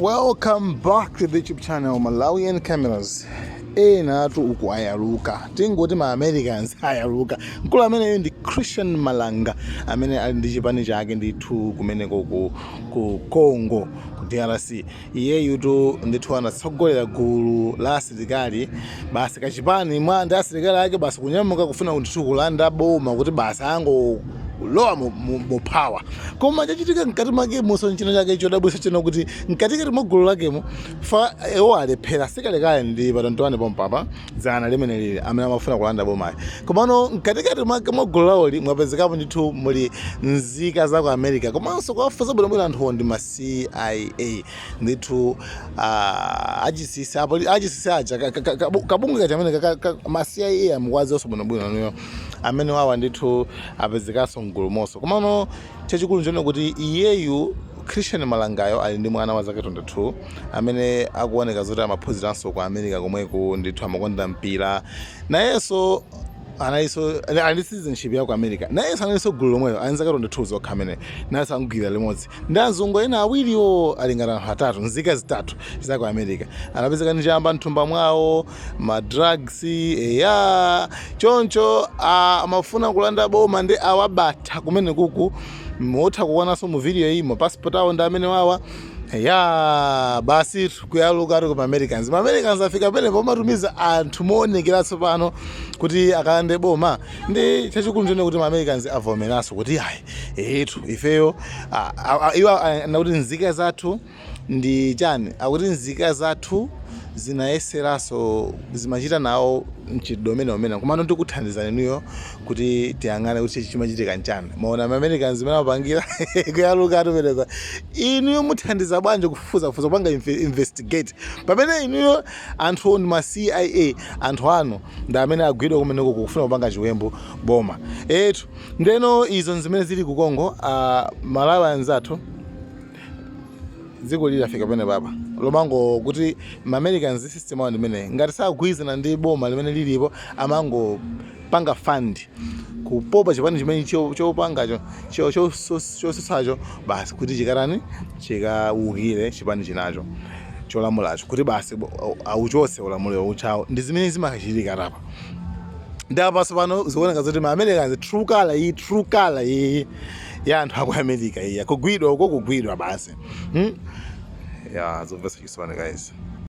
welcome back to the youtube channel malawian cameras enatu uku ayaluka tingoti ma americans ayaluka mkulu ameneyo ndi christian malanga amene ali ndi chipani chake ndithu kumeneko ku, ku congo ku drc iyeyutu ndithu anatsogolera gulu la asilikali basi kachipani mwake ndi asilikali ake basi kunyamuka kufuna ndithu kulanda boma kuti basi ango kulowa mu- mu- mu power koma chachitika mkati mwakemonso nchina chake chodabwitsa chino kuti mkatikati mwa gulu lakemo pa iwo alephera sikalekale ndi patontowane pompapa dzana limeneli amene amafuna kulanda bomayi komano mkatikati mwake mwa gulu lawoli mwapezekapo ndithu muli nzika za ku america komanso kuwafunsa bwinobwino anthuwo ndi ma cia ndithu ah, achisisi apo achisisi aja ka- ka- ka- kabu- kabungwe kaja amene ka- ka- ka- ma cia amene mukuwadziwanso bwinobwino inuyo amenewawa ndithu apezekanso m'gulumonso komano chachikulu nchonena kuti iyeyu Christian Malangayo ali ndi mwana wa zaka 22 amene akuoneka zoti amaphunziranso ku America komweko ndithu amakonda mpira nayenso analinso ali ndi citizenship ya ku America nayenso analinso gulu lomwelo ali ndi zaka 22 zokha amene nayenso wagwidwa limodzi ndi azungu ena awiriwo ali ngati anthu atatu nzika zitatu za ku America anapezeka ndi chamba mthumba mwawo ma drugs eya chonchotu amafuna kulanda boma ndi awabatha kumenekuku mutha kuonanso mu video iyi ma passport awo ndi amenewawa ya basi kuyaluka atitu ma americans ma americans afika pena pomatumiza anthu moonekera tsopano kuti akalande boma ndi chachikulu nchoonena kuti ma americans avomeranso kuti ayi etu ifeyo iwowo akuti nzika zathu ndi chani akuti nzika zathu zinayeseranso zimachita nawo mchitidwe umeneumenewu komano tikuthandizani inuyo kuti tiyang'ane kuti chimachitika nchani mwaona ma Americans zimene amapangira kuyaluka akupereka inuyo muthandiza bwanji kufufuzafufuza kupanga inve- investigate pamene inuyo anthu ndi ma CIA anthu anu ndi amene agwidwa kumeneko kufuna kupanga chiwembu boma etu ndeno izo nzimene zili ku Congo uh, Malawi anzathu dziko lili lafika penepapa pomango kuti ma Americans system awo ndimene ngati sakugwirizana ndi boma limene lilipo amangopanga fund kupopa chipani chimene chopangacho chosutsacho basi kuti chikatani chikaukire chipani chinacho cholamulacho kuti basi auchose ulamuliro ujawo ndi zimene zimachitika ndiye panopanso pano zikuoneka zoti ma Americans true color iyi true color iyi ya anthu aku america iya kugwidwa uko kugwidwa basi hmm? ya zomvetsa chisoni guys